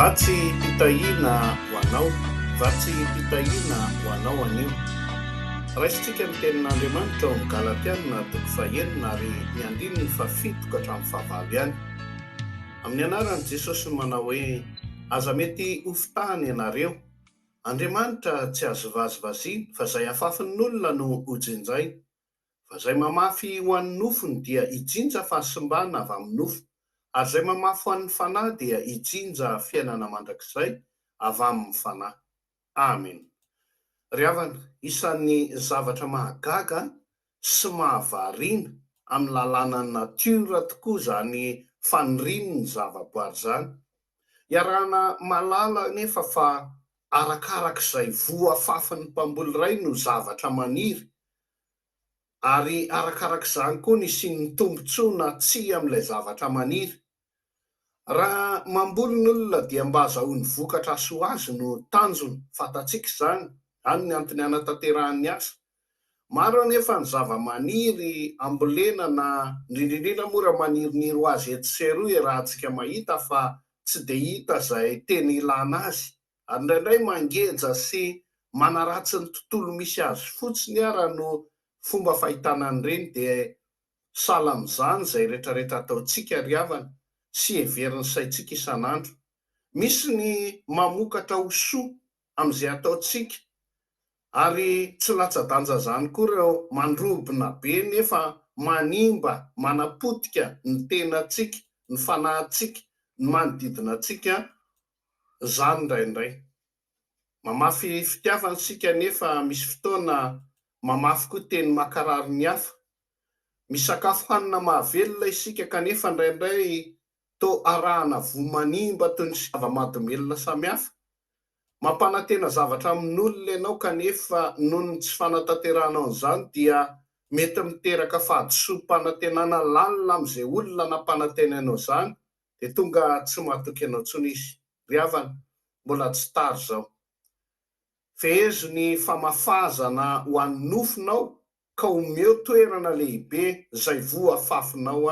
Vatsy fitahiana ho anao, vatsy fitahiana ho anao anio. Raisintsika ny tenin'Andriamanitra ao amin'ny Galatiana toko fahenina ary ny andininy fahafito ka hatramin'ny fahavalo ihany. Amin'ny anaran'i Jesosy no manao hoe, Aza mety ho fitahana ianareo. Andriamanitra tsy azo vazivaziana fa izay afafin'ny olona no hojinjaina. Fa izay mamafy ho an'ny nofony dia hijinja fahasimbana avy amin'ny nofo, ary izay mamafy ho an'ny Fanahy dia hijinja fiainana mandrakizay avy amin'ny Fanahy. Amena. Ry havana, isan'ny zavatra mahagaga sy mahavariana amin'ny lalànan'ny natiora tokoa izany fanirian'ny zavaboary izany. Iarahana mahalala anefa fa arakaraka izay voa afafin'ny mpamboly iray no zavatra maniry Ary arakaraka izany koa ny hisian'ny tombontsoa na tsia amin'ilay zavatra maniry. Raha mamboly ny olona dia mba azahoany vokatra hahasoa azy no tanjony, fantatsika izany, izany ny antony hanatanterahany asa. Maro anefa ny zava-maniry ambolena na indrindra indrindra moa raha maniriniry ho azy etsy sy eroa iarahantsika mahita fa tsy dia hita izay tena ilana azy Ary indraindray mangeja sy manaratsy ny tontolo misy azy fotsiny ara no fomba fahitana an'ireny dia sahala amin'izany izay retraretra ataontsika ry havana sy heverin'ny saintsika isan'andro. Misy ny mamokatra ho soa amin'izay ataontsika ary tsy latsa-danja izany koa ireo mandrobona be nefa manimba manapotika ny tenantsika, ny fanahintsika, ny manodidina antsika izany indraindray. Mamafy fitiavana isika anefa misy fotoana mamafy koa teny mankarary ny hafa. Misakafo hanina mahavelona isika kanefa indraindray toa arahana voa manimba toy ny zava-mahadomelina samihafa. Mampanantena zavatra amin'olona ianao kanefa noho ny tsy fanatanterahanao an'izany dia mety miteraka fahadisoam-panantenana lalina amin'izay olona nampanantenainao izany Dia tonga tsy matoky anao tsony izy. Ry havana, mbola tsy tary izao. Fehezo ny famafazana ho an'ny nofonao ka omeo toerana lehibe izay voa fafinao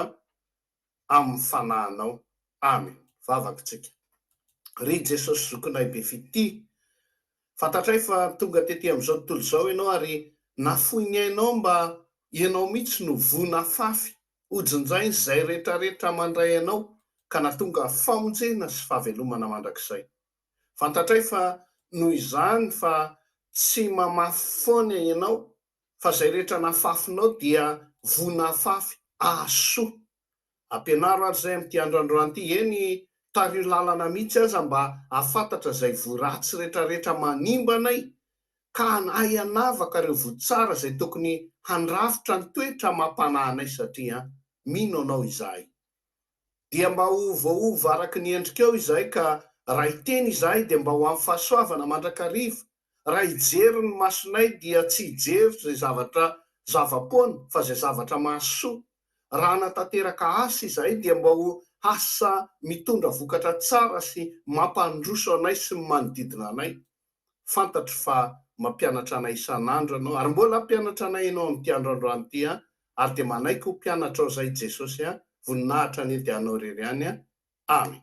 amin'ny fanahinao. Amen. Vavaka isika. Ry Jesosy Zokinay be fitia, fantatray fa tonga tety amin'izao tontolo izao Ianao ary nafoy ny ainao mba Ianao mihitsy no voa nafafy Hojinjain' izay rehetrarehetra mandray anao ka natonga famonjena sy fahavelomana mandrakizay. Fantatray fa noho izany fa tsy mamafy foana ianao fa izay rehetra nafafinao dia vonafafy ahasoa. Ampianaro ary izay amin'ity andrandroany ity, eny tariho lalana mihitsy aza mba hahafantatra izay voiratsy rehetrarehetra manimba anay ka hanahy hanavaka ireo voa tsara izay tokony handrafitra ny toetra amam-panahy anay satria mino Anao izahay. Dia mba ho voaova araka ny endrikao izahay ka raha hiteny izahay dia mba ho amin'ny fahasoavana mandrakariva, raha hijery ny masonay dia tsy hijery izay zavatra zava-poana fa izay zavatra mahasoa, raha hanatanteraka asa izahay dia mba ho asa mitondra vokatra tsara sy mampandroso anay sy ny manodidina anay. Fantatro fa mampianatra anay isan'andro Ianao, ary mbola hampianatra anay Ianao amin'ity andro androany ity, ary dia manaiky ho mpianatrao izahay Jesosy, voninahitra hanenty Anao irery ihany. Amen.